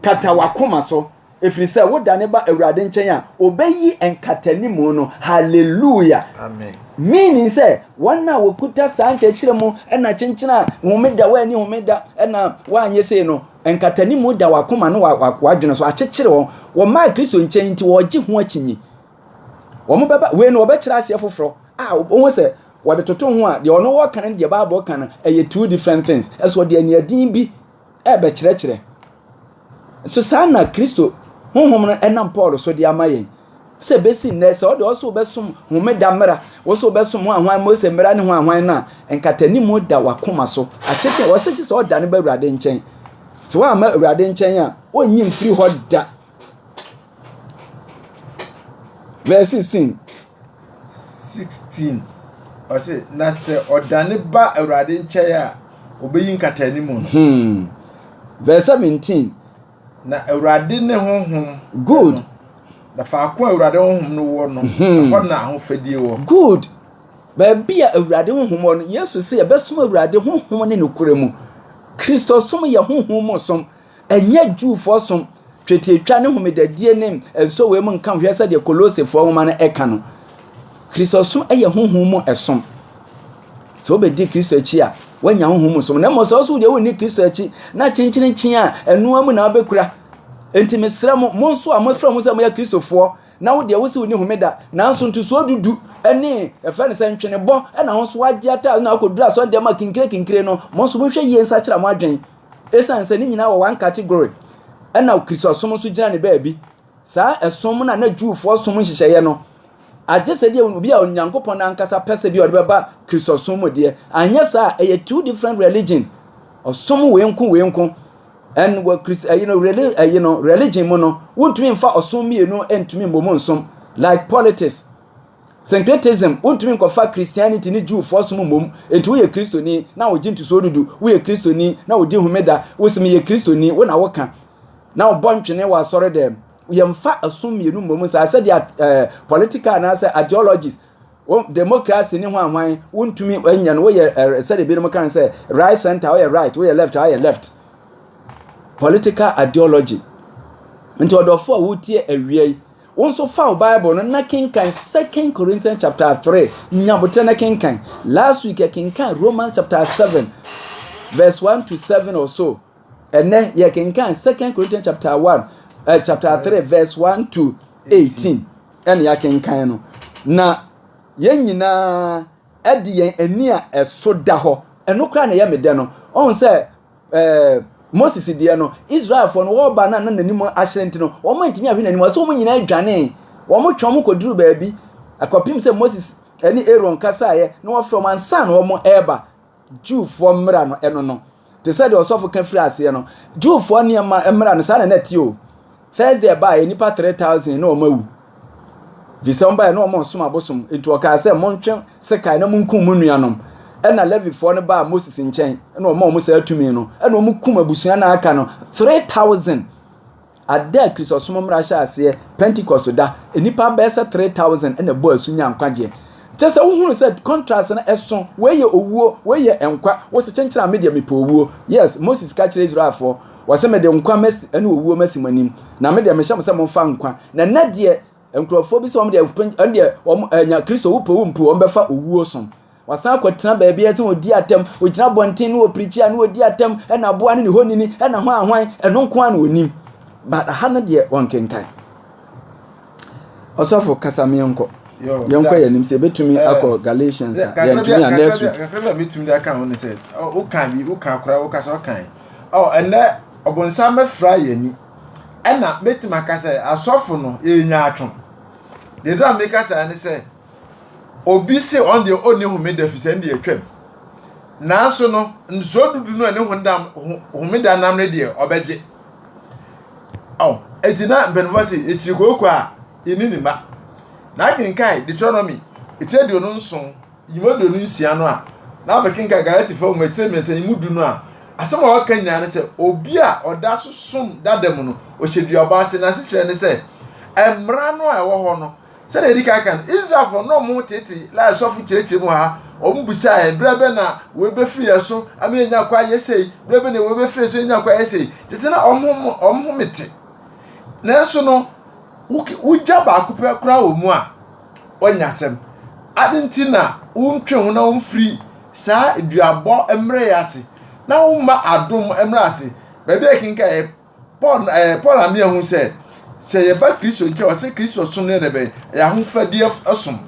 kata w'akoma so. Ɛfiri sɛ wodane ba Awurade nkyɛn a, ɔbɛyi nkatanimu no. Hallelujah. Amen. Meaning sɛ wɔn a wɔkuta saa nkyerɛkyerɛ mu na kyenkyena a homeda wɔani homeda na wɔanyɛ sei no, nkatanimu da wakoma no wadwene so akyekyere wɔn. Wɔmaa Kristo nkyɛn nti wɔregye ho akyinyi. Wɔn bɛba wei no wɔbɛkyerɛ aseɛ foforɔ a wɔn sɛ wɔde toto ho a deɛ ɔno wɔka no deɛ Bible ka no ɛyɛ two different things. Ɛso deɛ nea din bi ɛbɛkyerɛkyerɛ. So saa na Kristo honhom no nam Paul so de ama yɛn? Sɛ ebesi nnɛ sɛ ɔde ɔso bɛsom homeda mmara, wɔso wobɛsom ho ahwan Mose mmara ne ho ahwan no a, nkatanimu da w'akoma so. Akyekye wɔse gye sɛ ɔdane ba Awurade nkyɛn. Sɛ woamma Awurade nkyɛn a, onnye mfiri hɔ da. Verse 16. 16. Ɔse, na sɛ ɔdane ba Awurade nkyɛn a, obeyi nkataanim no. Hmm. Verse 17. Na Awurade ne honhom. Good. No, na faako a Awurade honhom no wɔ no, hmm. ɛhɔ na ahofadie wɔ. Good. Baabi a Awurade honhom wɔ no, Yesu sɛ yɛbɛsom Awurade honhom ne nokorɛ mu. Kristosom yɛ honhom mu som. Ɛnyɛ Jewfoɔ som, twetiatwa ne homedadie ne nsowee mu nka hwɛ sɛdeɛ Kolosefoɔ nwoma no ɛka no. Kristosom yɛ honhom mu som. Sɛ wobɛdi Kristo akyi a, woanya honhom mu som. Na mmom sɛ ɔso deɛ wonni Kristo akyi na kyenkyerenkyen a ɛnoa mu na wobɛkura. Enti mesrɛ mo, mo nso a mofrɛ mo sɛ moyɛ Kristofoɔ na wo deɛ wose wonni homeda nanso ntosoɔ dudu ne ɛfrɛ no sɛ ntwenebɔ na ho nso wagye ata na akɔduru asɔre deɛ ma kinkire kinkire no, mo nso monhwɛ yie nsakyera mo adwene. Esiane sɛ ne nyinaa wɔ one category ɛna Kristosom nso gyina ne baabi. Saa ɛsom na na Jewfoɔ som nhyehyɛeɛ no agye sɛ deɛ obi a Onyankopɔn n'ankasa pɛ sɛ deɛ ɔde bɛba Kristosom mu deɛ. Anyɛ saa ɛyɛ two different religion. Ɔsom wei nko wei nko. And wɔ Christ ɛyi no reli ɛyi no religion mu no wontumi mfa ɔsom mmienu ntumi mmom nsom like politics. Syncretism, Wontumi nkɔfa Christianity ne Jewfoɔ som mmom, enti woyɛ Kristoni na wogye ntosoɔ dudu, woyɛ Kristoni na wodi homeda, wose meyɛ Kristoni, wo na woka, na wobɔ ntwene wɔ asɔredɛm. Yɛmfa ɛsom mmienu mmom saa sɛdeɛ at, eh, political anaasɛ ideologies, wo, democracy ne hwan hwan, wontumi nyɛ no, woyɛ eh, sɛdeɛ binom ka no sɛ right center, woyɛ right, woyɛ left, woyɛ left. Political ideology. Nti ɔdɔfo a wotie awia yi, Wo nso fa wo Bible no na kenkan Second Corinthians chapter three. Nya botere na kenkan. Last week yɛ kenkan Romans chapter seven verse one to seven or so. Ɛnɛ yɛ kenkan Second Corinthians chapter one uh, chapter three verse one to eighteen. Ɛna yɛ kenkan no. Na yɛn nyinaa ɛde yɛn ani a ɛso da hɔ. Ɛno koraa na ɛyɛ me dɛ no. Ɔn sɛ ɛɛ moses deɛ no israelfoɔ no wɔreba na na n'anim ahyerɛn ti no wɔn antumi ahwɛ n'anim ɔsɛ wɔn nyinaa dwanee wɔn twɛn wɔn kɔduru baabi akɔpem sɛ moses ɛne aaron kasaeɛ na wɔfrɛ wɔn ansa na wɔn ɛreba jewfoɔ mmara no ɛno no te sɛ deɛ ɔsɔfo ka firi aseɛ no jewfoɔ nneɛma mmara no saa na na ɛte o First day ɛbaeɛ nnipa three thousand na wɔn awu. Efisɛ wɔn baeɛ na wɔn resom abosom. Nti ɔkaa sɛ montwe sekan na monkum mo nuanom. Ɛna Levifoɔ no baa Moses nkyɛn na wɔn a wɔn saa tumi no ɛna wɔn kum abusua na aka no three thousand. Ada a Kristosom mmara hyɛ aseɛ Pentecost da nnipa bɛyɛ sɛ three thousand ɛna ɛbɔ asu nya nkwagyeɛ. Kyɛ sɛ wohunu sɛ contrast no ɛso wei yɛ owuo wei yɛ nkwa wosɛ kyenkyere a me deɛ mepɛ owuo. Yes Moses ka kyerɛ Israelfoɔ. Wɔse mede nkwa masi ɛne owuo masi mo anim na me deɛ mehyɛ mo sɛ momfa nkwa na nnɛ deɛ nkurɔfoɔ bi sɛ wɔn deɛ ɛn deɛ wɔn ɛnya kristo wopɛ wo mpo wɔn bɛfa owuo som wasan akɔtena baabi ɛsɛ wɔdi atɛm wɔgyina bɔnten ne wɔpirikyi a ne wɔdi atɛm ɛna aboa ne ne hɔ nini ɛna hwan hwan ɛno nko a na wɔnim but aha no deɛ wɔnkenkan Ɔsɔfo kasa me yɛnkɔ. Yɛnkɔ yɛn anim sɛ ebetumi eh, akɔ Galatians a yɛntumi a next week. Kakra bi a metumi de aka ho ne sɛ woka bi woka kora woka sɛ ɔkan. Ɔ ɛnɛ ɔbɔnsam bɛfra yɛn ani. Ɛna metumi aka sɛ asɔfo no yɛnya atwo. Deɛ dra meka saa ne sɛ obi se ɔn deɛ ɔnni homeda fi sɛ ɛndeɛ atwam. Nanso no nsuo dudu no a ne homeda nam ne deɛ ɔbɛgye. Oh, eti na mpanyinfoɔ se ekyiri kooko a eni ne mma. Na akenkan Deuteronomy etire aduonu nson yi mu aduonu nsia no a na abɛkenkan Galatifoɔ nwoma etire mmiɛnsa yi mu du no a asɛm a wɔka nyinaa ne sɛ obi a ɔda so som dada mu no ɔhyɛ duabɔ ase na asekyerɛ ne sɛ mmara no a ɛwɔ hɔ no Sɛdeɛ yɛdi kan kan, Israelfoɔ na wɔn tete lai sɔfo kyerɛkyerɛ mu ha, wɔn bisa yɛn, berɛ bɛ na wɔbɛfiri yɛn so ama yɛnya kwa yɛ sei, berɛ bɛ na wɔbɛfiri yɛn so yɛnya kwa yɛ sei, te sɛ na wɔn ho mete. Nanso no, wogya baako pɛ koraa wɔ mu a, wɔnya asɛm. Ade nti na wontwe ho na wɔmfiri saa duabɔ mmerɛ yɛ ase, na womma adom mmerɛ ase, baabi a yɛkenkan paul ɛɛ eh, paul amia hu sɛ sɛ yɛba kristo nkyɛn ɔsɛ kristo som no yɛ dɛ bɛn ɛyɛ ahofadeɛ som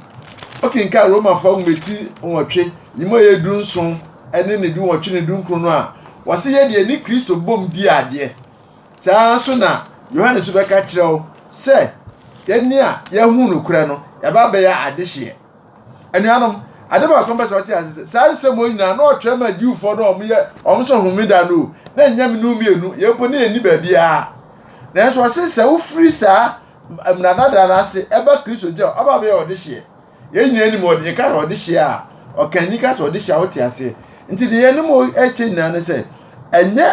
okenka romafo ahometi nwɔtwe yi mu ɛyɛ du nson ɛne ne du nwɔtwe ne du nkron no a wɔsɛ yɛ deɛ ne kristo bom di adeɛ saa nso na yohane so bɛka kyerɛ wo sɛ yɛne a yɛhu nokorɛ no yɛba bɛyɛ adehyeɛ anuanom ade baako mpɛ sɛ ɔte ase sɛ saa nsɛm wɔn nyinaa na ɔtwerɛ ma jiwfoɔ no wɔn yɛ wɔn sɛ homeda no na ɛnyɛ mene mmienu yɛn mpo ne yɛn ni baabiara nanso ɔse sɛ wofiri saa mmara dada no ase ɛba kristo gye a ɔba bɛyɛ ɔde hyeɛ yɛn nyinaa nim ɔde yɛka sɛ ɔde hyeɛ a ɔkanni ka sɛ ɔde hyeɛ a wote ase nti deɛ yɛne mo ɛkyɛ nyinaa ne sɛ ɛnyɛ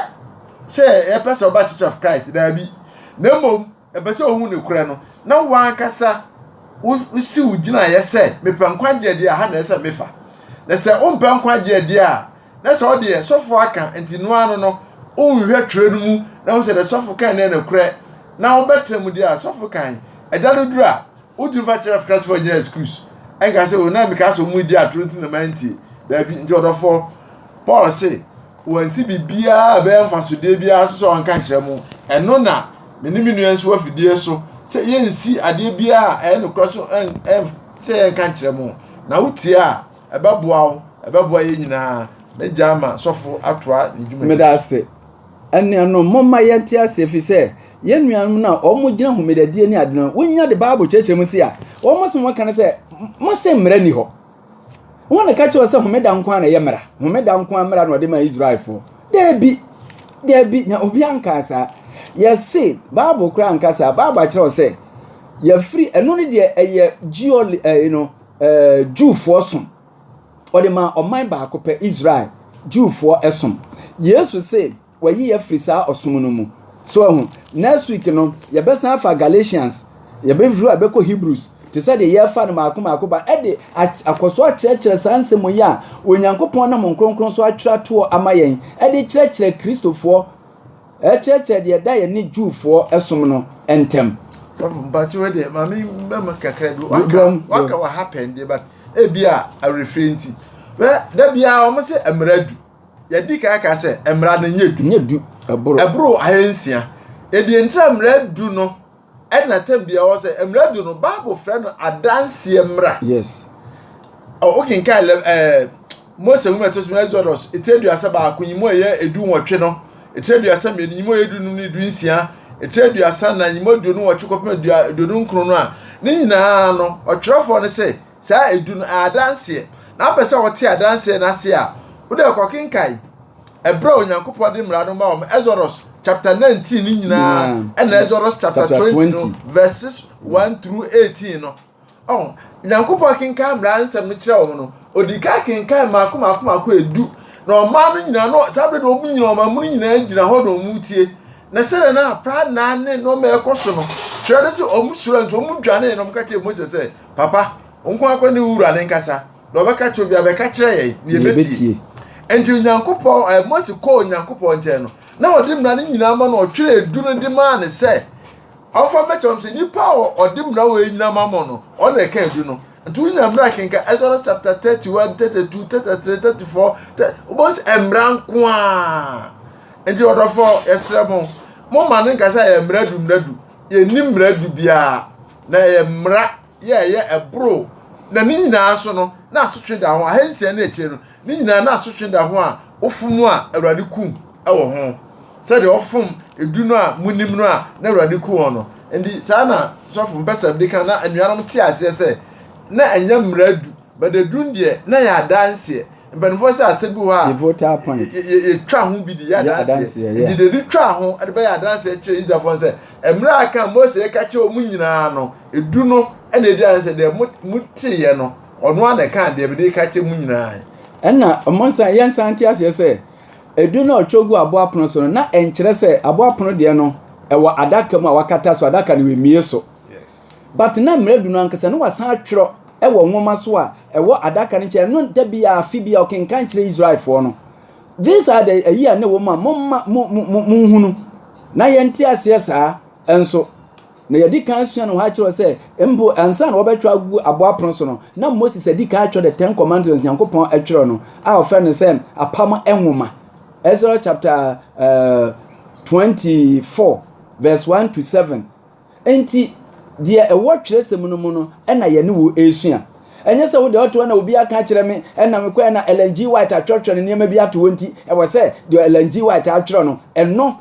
sɛ yɛpɛ sɛ ɔba church of christ daabi na mmom Ɛpɛ sɛ ohu nokorɛ no, na w'ankasa wosi wo gyinaeɛ sɛ, Mepɛ nkwagyeɛ deɛ a, ha na ɛsɛ sɛ mefa. Na sɛ wompɛ nkwagyeɛ deɛ a, na sɛ ɔdeɛ, sɔfoɔ aka, nti noa ano no, wonhwɛ twerɛ no mu na wohu sɛ deɛ sɔfo kan no yɛ nokorɛ, na wobɛtra mu deɛ a, sɔfo kan, ɛda no duru a, wotumi fa kyerɛ Christfoɔ nyinaa excuse. Ɛnka sɛ, o, na mekaa sɛ wɔredi atoro nti na mantie. Daabi. Nti ɔdɔfoɔ, Paul se, Wɔansi biribiara a ɛbɛyɛ mfasodeɛ biara nso sɛ wɔnka nkyerɛ mo. Ɛno na me ne me nua nso afidie so sɛ yɛnsi adeɛ biara a ɛyɛ nokorɛ so sɛ yɛnka nkyerɛ mo. Na wotie a, ɛbɛboa wo, ɛbɛboa yɛn nyinaa. Mɛgya ama sɔfo atoa ne dwuma. Meda ase. Anuanom, momma yɛnte ase ɛfiri sɛ yɛn nuanom no a wɔgyina homedadie ne ade no, wɔnya de Bible kyerɛkyerɛ mu se a, wɔn asɛm wɔka no sɛ, mose mmara ni hɔ. Hɔn na ɛka kyerɛ sɛ homeda nko ara na ɛyɛ mmara, homeda nko ara mmara na ɔde maa Israelfoɔ. Daabi, daabi, na obi ankaa saa. Yɛse, Bible koraa anka saa. Bible akyerɛ sɛ, yɛfiri, ɛno no deɛ ɛyɛ geol, ɛyi no, ɛɛ, Jewfoɔ som. Ɔde maa ɔman baako pɛ, Israel, Jewfoɔ som. Yesu se, Wayi yɛ afiri saa ɔsom no mu. So wahu? Next week no, yɛbɛsan afa Galatians, yɛbɛfiri hɔ a yɛbɛkɔ Hebrews, te sɛ deɛ yɛrefa no mmaako mmaako ba, de akɔ so akyerɛkyerɛ saa nsɛm yi a Onyankopɔn nam Honhom Kronkron so atwerɛ atoɔ ama yɛn, de kyerɛkyerɛ Kristofoɔ, kyerɛkyerɛ deɛ ɛda yɛn ne Jewfoɔ som no ntam. Sɔfo, mpakyɛ wei deɛ, ma me mmerɛ mu kakra bi, waka, waka wɔ ha pɛn deɛ, but ebi a awerɛfirɛ nti, wɛ, da biara wɔn se mmerɛ du. yɛdi kan ka sɛ mmara no nyɛ du. Nyɛ du ɛboro. Ɛboro ahansia. Edi ntra mmara du no ɛna tɛm bi ɛwɔ sɛ mmara du no Bible frɛ no adanseɛ mmara. Yes. Wokenkan ɛɛ eh, Mose nwoma ɛtɔ so Exodus etire aduasa baako nyimu ɛyɛ edu nwɔtwe no etire aduasa mmienu nyimu ɛyɛ edu num ne edu nsia etire aduasa na nyimu aduonu nwɔtwe kɔpem aduonu nkron no a ne nyinaa no ɔtwerɛfoɔ no sɛ Saa edu no, adanseɛ. Na wopɛ sɛ wɔte adanseɛ no ase a, wode kɔkenkan ɛberɛ a Onyankopɔn de mmara no ma wɔn, Exodus chapter 19 no nyinaa, ɛna Exodus chapter 20 no, verses 1 through 18 no. Oh, Nyankopɔn kenkan mmara nsɛm no kyerɛ wɔn no, ɔdi kan kenkan mmaako mmaako mmaako edu, na ɔmaa no nyinaa no, saa berɛ de wɔn nyinaa, wɔn amono nyinaa gyina hɔ na wɔn tie. Na sɛdeɛ na aprannaa ne nneɛma ɛkɔ so no, twerɛ no sɛ wɔn suro nti wɔn dwanee na wɔn ka kyerɛ Moses sɛ, Papa, wo nko akɔ ne wura ne nkasa, na ɔbɛka kyerɛ obiara bɛka kyerɛ yɛn na yɛbɛtie. Enti Onyankopɔn, eh, Mose kɔɔ Onyankopɔn nkyɛn no, na ɔde mmara no nyinaa ma no, ɔtwerɛ edu no de maa no sɛ, ɔmfa mmɛkyɛ wɔn sɛ nipa a ɔde mmara wɔ nyinaa ma mo no, ɔno na ɛka edu no. Nti wonya mmara kenka Exodus chapter 31, 32, 33, 34, wobɛhu sɛ mmara nko a. Nti ɔdɔfoɔ, yɛsrɛ mo, momma no nkasa yɛ mmara du mmara du, yɛnni mmara du biara. Na ɛyɛ mmara yɛ ɛyɛ ɛboro na ne nyinaa nso no na asotwe da ho ahansia ne akyire no ne nyinaa na asotwe da ho a wofom a awurade kum wɔ ho sɛdeɛ wɔfom edu no a monim no a na awurade ku wɔn no nti saa na sɔfo mpɛsɛm de ka na anuanom te aseɛ sɛ na ɛnyɛ mmara du But edun deɛ na yɛ adanseɛ mpanimfoɔ sɛ asɛ bi hɔ a yɛ twa ho bi de yɛ adanseɛ nti de de twa ho de bɛyɛ adanseɛ kyerɛ Israelfoɔ no sɛ mmerɛ a kan Mose yɛ ka kyerɛ wɔn nyinaa no edu no ɛna edi adanseɛ deɛ mo mo teeɛ no ɔno ara na ɛka deɛ bɛde ka kyerɛ mo nyinaa. ɛna wɔn nsa yɛn nsa nte aseɛ sɛ edu na ɔtwerɛ gu aboa pono so no na ɛnkyerɛ sɛ aboa pono deɛ no ɛwɔ adaka mu a wakata so adaka no wɔ emie so. But na mmerɛ adu no ankasa na wasan atwerɛ wɔ nwoma so a ɛwɔ adaka no nkyɛn ɛno da bi a afe bi a ɔkenkan kyerɛ Israelfoɔ no these are the ayi a na ɛwɔ mu a momma mo mo mo monhunu na yɛnte aseɛ saa nso na yɛdi kan sua no hɔ akyerɛ sɛ mpo ansa na wɔbɛtwerɛ agu aboa apono so no na Moses adi kan atwerɛ the ten commandments Nyankopɔn atwerɛ no a ɔfrɛ no sɛ apam nwoma Ezra chapter uh, eh, 24 verse 1 to 7 Enti, deɛ ɛwɔ twerɛsɛm no mu no na yɛne wo resua. Ɛnyɛ sɛ wo deɛ ɔte hɔ na obi aka akyerɛ me na mekɔɛ na Ellen G. White atwerɛtwerɛ ne nneɛma bi ato hɔ nti, ɛwɔ sɛ deɛ Ellen G. White atwerɛ no, ɛno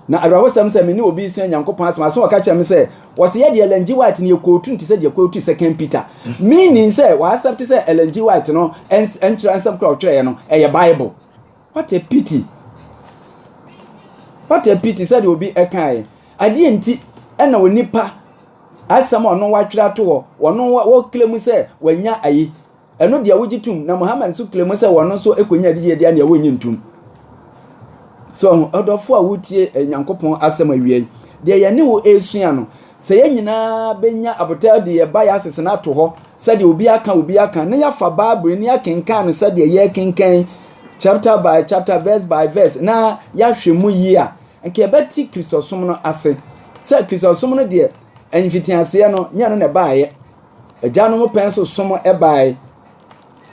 na awerɛhosɛm sɛ me ne obi resua Nyankopɔn asɛm aso ɔka kyerɛ me sɛ, wɔse yɛ deɛ Ellen G. White no yɛ kootu nti sɛ deɛ kootu Second Peter. Meaning sɛ wɔasɛpte sɛ Ellen G. White no nkyerɛ nsɛm kora ɔtwerɛɛ no, ɛyɛ Bible. what a pity what a pity sɛdeɛ obi ɛkaeɛ adeɛ nti ɛna onipa asɛm a ɔno watwerɛ ato hɔ ɔno wɔkele mu sɛ wanya ayi ɛno deɛ wogye tum na muhammad nso kele mu sɛ ɔno nso ɛkɔnya adidie deɛ neɛ wɔnye ntum so ɔdɔfo a wotie eh, nyankopɔn asɛm awie deɛ yɛne wo ɛresua no sɛ yɛn nyinaa bɛnya abotare de yɛ biases no ato hɔ sɛdeɛ obi aka obi aka na yɛafa bible ni akenkan no sɛdeɛ yɛkenkan chapter by chapter, verse by verse, na yɛahwɛ mu yie a, nka yɛbɛte Kristosom no ase. Sɛ Kristosom no deɛ, mfitiaseɛ no, nyɛ no na ɛbaeɛ. Agyanom pɛn so som ɛbaeɛ,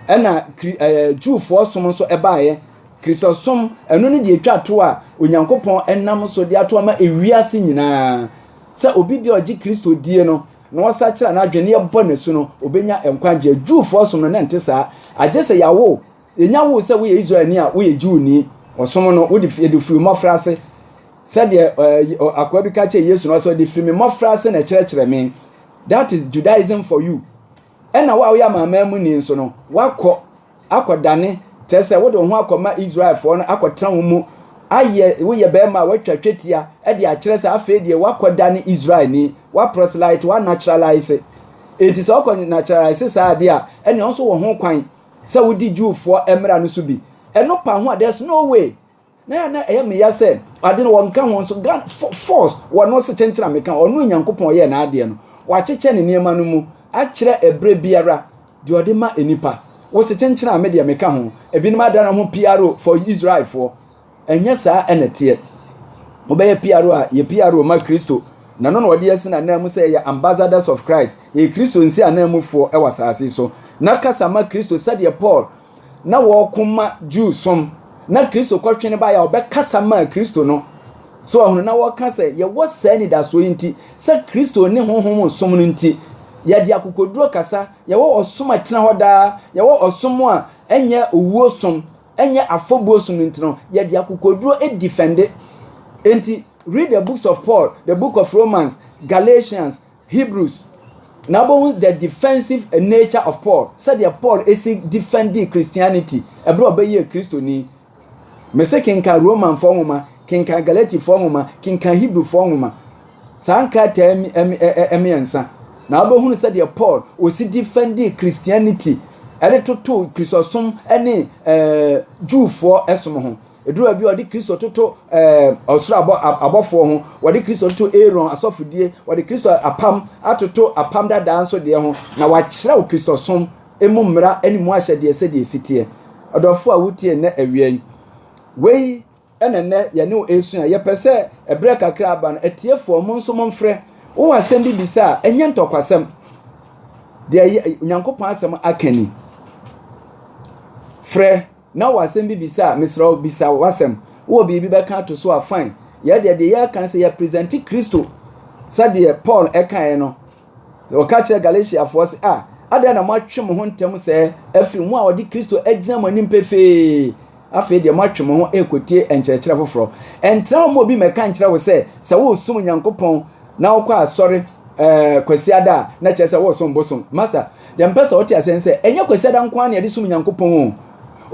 ɛna ɛɛ Jewfoɔ som nso ɛbaeɛ. Kristosom ɛno no deɛ etwa to a Onyankopɔn ɛnam so de ato ama ewiase nyinaa. Sɛ obi deɛ ɔgye Kristo die no na ɔsakyera n'adwene ɛbɔ n'asu no, obenya nkwagyeɛ. Jewfoɔ som no na ɛnte saa. Agye sɛ yɛawo Yɛnya woo sɛ woyɛ Israelni a woyɛ Jewni, ɔsom no, wode fi, yɛde firi mmɔfra ase. Sɛdeɛ uh, akoa bi ka kyerɛ Yesu no sɛ ɔde firi me mmɔfra ase na ɛkyerɛkyerɛ me. That is Judaism for you. Ɛna wo a woyɛ amanaman mu ni nso no, woakɔ akɔdane kyerɛ sɛ wode wo ho akɔma Israelfoɔ no akɔtena wo mu ayɛ woyɛ bɛrima a watwa twetia de akyerɛ sɛ afei deɛ wakɔda ne israelni waprɔselite wanaturalise enti sɛ ɔkɔ naturalise saa adeɛ a ɛnea ɔnso wɔ ho kwan sɛ wodi Jewfoɔ mmara no so bi. Ɛno pa ho a, there's no way. Na yɛ na ɛyɛ me ya sɛ, ade no wɔnka ho nso, gan, force, wɔ no se kyenkyen a meka, ɔno Nyankopɔn ɔyɛɛ n'adeɛ no, wakyekyɛ ne nneɛma no mu, akyerɛ ɛberɛ biara, deɛ ɔde ma nnipa. Wo se kyenkyen a, me deɛ meka ho. Ebinom adane wɔn ho PRO for Israelfoɔ. Ɛnyɛ saa na ɛteɛ. Wobɛyɛ PRO a, yɛ PRO ma Kristo, na ɛno na wɔde asi n'ananmu sɛ yɛyɛ ambassadors of Christ, yɛyɛ Kristo nsiananmufoɔ wɔ asase so. Na kasa ma Kristo sɛdeɛ Paul na wɔreko ma Jew som, na Kristo kɔtwene baeɛ a ɔbɛkasa maa Kristo no. So ɔhono na wɔka sɛ yɛwɔ saa anidasoɔ yi nti, sɛ Kristo ne honhom som no nti, yɛde akokoduro kasa, yɛwɔ ɔsom a ɛtena hɔ daa, yɛwɔ ɔsom a ɛnyɛ owuo som, ɛnyɛ afɔbuo som nti no yɛde akokoduro defende nti read the books of paul the book of romans galatians hebrews na wɔn the defensive nature of paul sɛdeɛ paul esi defendi christianity ɛberɛ a ɔbɛyɛ kristoni mese kenkan romanfoɔ nwoma kenkan galatifoɔ nwoma kenkan hebrewfoɔ nwoma Saa nkrataa mmiɛnsa na wobɛhunu sɛdeɛ Paul ɔsi defend Christianity ɛde toto Kristosom ne eh, Jewfoɔ ɛsom ho. Ɛduru baabi wɔde Kristo toto eh, ɔsoro abɔ, abɔfoɔ ho, wɔde Kristo toto Aaron asɔfodie, wɔde Kristo apam atoto apam dadaa nso deɛ ho, na wakyerɛw Kristosom emu mmara ne mu ahyɛdeɛ sɛdeɛ ɛsi teɛ. Ɔdɔfoɔ a wotie nnɛ awia yi, wei Ɛna nnɛ yɛne wo ɛresua. Yɛpɛ sɛ ɛberɛ kakra aba no, atiefoɔ mo nso mo mfrɛ. Wowɔ asɛm bi bisa a, ɛnyɛ ntɔkwasɛm. Deɛ yɛ Nyankopɔn asɛm aka ni. Frɛ na wɔ asɛm bi bisa a, mesrɛ wo bisa w'asɛm. Wowɔ biribi bɛka ato so a, fine. Yɛdeɛ deɛ yɛka no sɛ yɛpresente Kristo sɛdeɛ Paul ɛkaeɛ no, Na ɔka kyerɛ Galatiafoɔ sɛ, a, adɛn na moatwe mo ho ntɛm sɛɛ afiri mo a ɔde Kristo agyina mo anim pefee? Afei deɛ moatwe mo ho rekɔtie nkyerɛkyerɛ foforɔ. Ɛntra wo ma obi mmɛka nkyerɛ wo sɛ, sɛ woresom Nyankopɔn na wokɔ asɔre ɛɛ kwasiada a, na kyerɛ sɛ woresom bosom. Masa, deɛ mpɛ sɛ wote aseɛ sɛ, ɛnyɛ kwasiada nko ara na yɛde som Nyankopɔn o.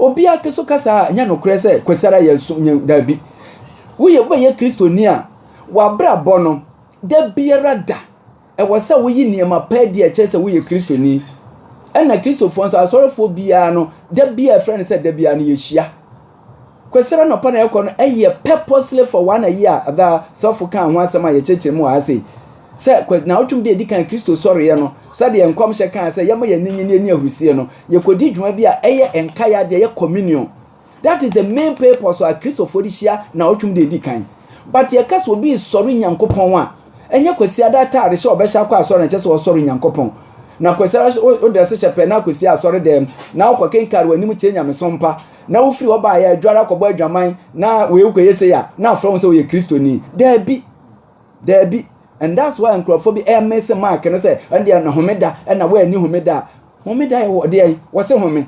Obiara so ka saa a, ɛnyɛ nokorɛ sɛ kwasiada yɛ som, daabi. Woyɛ, wobɛyɛ Kristoni a, w'abrabɔ no, Da biara da, ɛwɔ sɛ woyi nneɛma pa adi a ɛkyerɛ sɛ woyɛ Kristoni. Ɛna Kristofoɔ nso, asɔrefoɔ biara no, da biara ɛfrɛ no sɛ da biara no yɛhyia. Kwasira nɔpa na yɛkɔ no, ɛyɛ purposely for one a year ada sɔfo kaa ho asɛm a yɛkyerɛkyerɛ mu wɔ ha sei. Sɛ naawɔtwem de adi kan Kristo sɔreɛ no, sɛdeɛ nkɔmhyɛ kaa sɛ yɛma yɛn ani nye ne yɛni ahurusie no, yɛkɔdi dwuma bi a ɛyɛ nkae adeɛ, ɛyɛ communion. That is the main purpose a Kristofo de hyia naawɔtwem de edi kan. But yɛka sɛ obi resɔre Nyankopɔn a, ɛnyɛ Kwasiada ataade hyɛ ɔbɛhyɛ akɔ asɔre na kyɛ sɛ ɔresɔre Nyankopɔn. Na Kwasiada wo drɛse hyɛ pɛ na akɔsi asɔre dɛm na wokɔ kenkare w'anim tie nyamesom mpa na wofiri hɔ baeɛ adware akɔbɔ adwaman na wei wokɔyɛ sei a na afrɛ wo sɛ woyɛ Kristoni. Daabi. Daabi. And that's why nkurɔfoɔ bi ɛmese Mark no sɛ ɛndeɛ na homeda ɛna woanni homeda a homeda yɛ wɔ deɛ wɔse home.